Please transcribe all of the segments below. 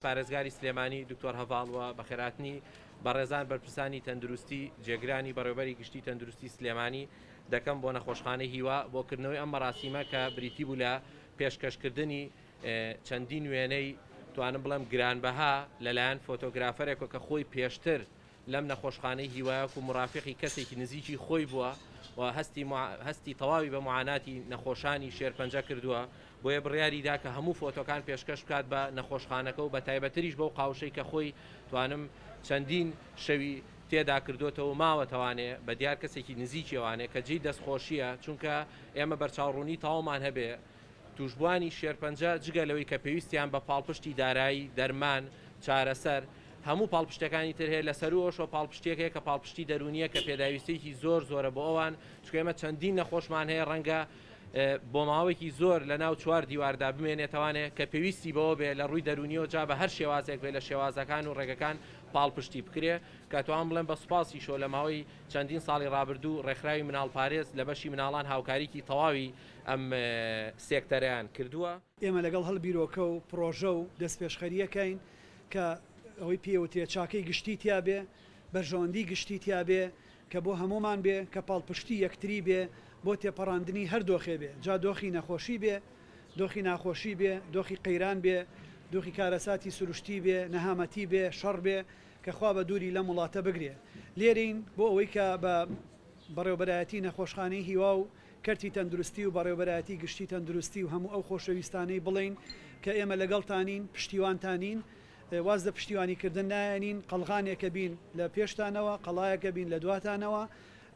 پارێزگاری سلێمانی دکتۆر هەڤاڵ و بەخێرهاتنی بەڕێزان بەرپرسانی تەندروستی جێگرانی بەڕێوبەری گشتی تەندروستی سلێمانی دەکەم بۆ نەخۆشخانەی هیوا بۆ کردنەوەی ئەم مەراسیمە کە بریتی بوو لە پێشکەشکردنی چەندین وێنەی توانم بڵێم گرانبەها لەلایەن فۆتۆگرافەرێکەوە کە خۆی پێشتر لەم نەخۆشخانەی هیوا وەکو مورافیقی کەسێکی نزیکی خۆی بووە و هەستی هەستی تەواوی بە معاناتی نەخۆشانی شێرپەنجە کردووە بۆیە بڕیاری دا کە هەموو فۆتۆکان پێشکەش بکات بە نەخۆشخانەکە و بە تایبەتریش بەو قاوشەی کە خۆی توانم چەندین شەوی تێدا کردوتەوە ماوەتەوانێ بە دیار کەسێکی نزیکیەوانێ کە جێی دەستخۆشیە چونکە ئێمە بەرچاوڕوونی تەواومان هەبێ تووشبووانی شێرپەنجە جگە لەوەی کە پێویستیان بە پاڵپشتی دارایی، دەرمان، چارەسەر، هەموو پاڵپشتەکانی تر هەیە، لەسەروو ئەوەشەوە پاڵپشتییەک هەیە کە پاڵپشتی دەروونییە کە پێداویستییەکی زۆر زۆرە بۆ ئەوان، چونکە ئێمە چەندین نەخۆشمان هەیە ڕەنگە بۆ ماوەیەکی زۆر لەناو چوار دیواردا بمێنێتەوانێ کە پێویستی بەوە بێ لە ڕووی دەروونییەوە جا بە هەر شێوازێک بێ لە شێوازەکان و ڕێگەکان پاڵپشتی بکرێ کە ئەتوانم بڵێم بە سوپاسیشەوە لە ماوەی چەندین ساڵی ڕابردوو ڕێکخراوی مناڵپارێز لە بەشی مناڵان هاوکاریی تەواوی ئەم سێکتەرەیان کردووە. ئێمە لەگەڵ هەڵ بیرۆکە و پڕۆژە و دەستپێشخەرییەکەین کە ئەوەی پێی وترێ چاکەی گشتی تیا بێ، بەرژەوەندی گشتی تیا بێ کە بۆ هەموومان بێ، کە پاڵپشتی یەکتری بێ بۆ تێپەڕاندنی هەر دۆخێ بێ، جا دۆخی نەخۆشی بێ، دۆخی ناخۆشی بێ، دۆخی قەیران بێ، دۆخی کارەساتی سروشتی بێ، نەهامەتی بێ، شەڕ بێ کە خوا بە دووری لەم وڵاتە بگرێ. لێرەین بۆ ئەوەی کە بە بەڕێوەبەرایەتی نەخۆشخانەی هیوا و کەرتی تەندروستی و بەڕێوەبەرایەتی گشتی تەندروستی و هەموو ئەو خۆشەویستانەی بڵێین کە ئێمە لەگەڵتانین، پشتیوانتانین، واز لە پشتیوانیکردن نایەنین، قەڵغانێکە بین لە پێشتانەوە، قەڵایەکە بین لە دواتانەوە،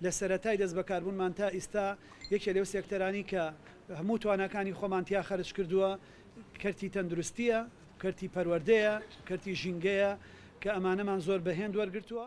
لە سەرەتای دەستبەکاربوونمان تا ئیستا یەکێ لەو سێکتەرانەی کە هەموو تواناکانی خۆمان تیا خەرجکردووە کەرتی تەندروستییە، کەرتی پەروەردەیە، کەرتی ژینگەیە کە ئەمانەمان زۆر بە هێند وەرگرتووە.